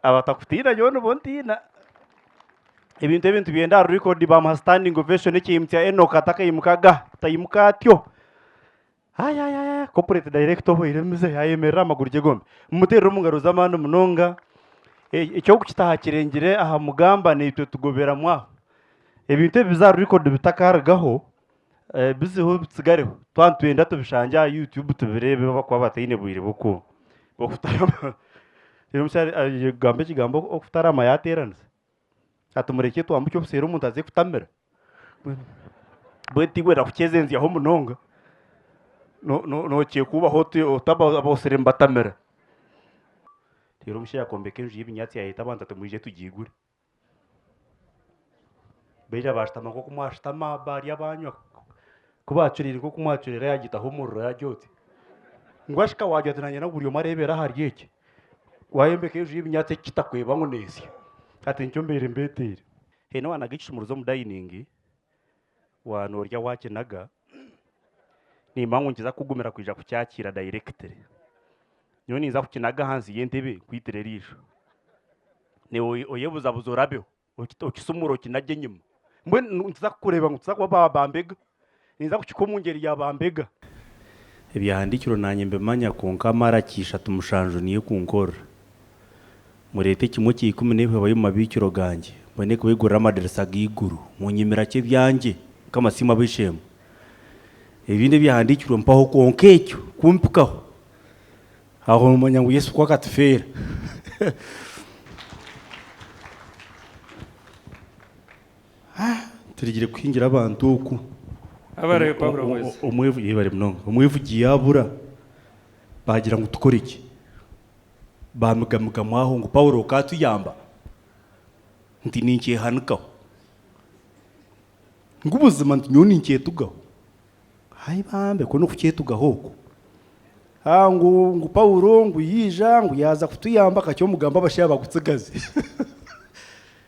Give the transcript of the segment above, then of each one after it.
abatakutiina nyowe nibo ntiina ebintu ebi nitubyenda aha record bamuha standing ovation ekihimbi kya enoka atakaimukaga ataimuka atyo ayayaya corporate director oboire emize ayemerera amaguru gye gombi mumuteerere omu ngaro z'amaani munonga E- eky'okukitaha kirengire aha mugamba naitwe tugoberamu aho ebintu ebi biza aha record bitakarugaho Ebizibu bitsigareho twaba nitwenda tubishangye aha YouTube tubireebe obu bakuba bataine bwire bw'oku- bw'okutarama. Reero omukyari aija kugamba ekigambo okutarama yaateeraniza. Hati murekye twambuke obuseeri omuntu aze kutamira. Mbwenu mbwenu tiwe ndakukyezenzyaho munonga, no- no- nookyekuubaho oti oti aboosire nibatamira. Reero omushaija akombeka enju y'ebinyaatsi yaayeeta abantu ati mwije tugiigure. Baija baashutama nk'oku mwashutama, baarya baanywa ku baacuriire nk'oku mwacuriire yaagitaho omuriro yaagira oti, ngu ashika waagira oti naanye buri omwe areebera ahari egi, waayombeka enju y'ebinyaatsi eki kitakweba ngu neesya, hati nikyo mbaire mbeeteire. Haine owaanaga ekishumuruzo omu dayiningi. Waaba noori ow'akinaga, niimanya ngu nikiza kukugumira kwija kukyakiira dayirekitire. Nyowe ninza kukinaga ahansi y'entebe nkwitire eriisho. Naiwe oyebuzabuza orabeho, okisumure okinagye enyima. Mbwenu nikiza kukureeba ngu nikiza kuba bambega. Ninza kukikuha omu ngyeri ya bambega. Ebyahandiikirwe naanye mbimanya, kwonka mara kiisha timushanju niyo ekunkorera. Mureete ekimwe kya ikumi n'eihweba y'omu mabiikiro gangye, mbwenu ekubegurire amadirisa g'eiguru. Munyimira ki ebyangye? Mukama siimwe ab'eishe-emwe. Ebindi ebyahandiikirwe mpaho kwonka ekyo kumpikaho. Aho noomanya ngu Yesu ku akatufeera. Ha, turigire kuhingira abantu oku. Abarebe Paulo bwezi. Omwevu, yebare munonga. Omwevugi yaabura, baagira ngu tukore ki? Baamigaamigamu aho ngu, Paulo okaatuyamba nti ninkyehanikaho, ngu buzima nti nyowe ninkyetugaho. Hai bambe, ku n'okukyetugaho oku! Haa ngu, ngu Paulo ngu yaija ngu yaaza kutuyamba kakye omugamba abashaija bakutsigaze.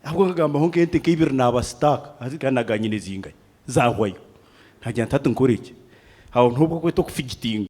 Ahabw'okuba nkagambaho nk'ente nka ibiri naabasitaaka, hati nkaba naaga nyine zingahi? Zaahwayo. Naagira nti hati nkore ki? Aho niho obu orikweta okufigitinga.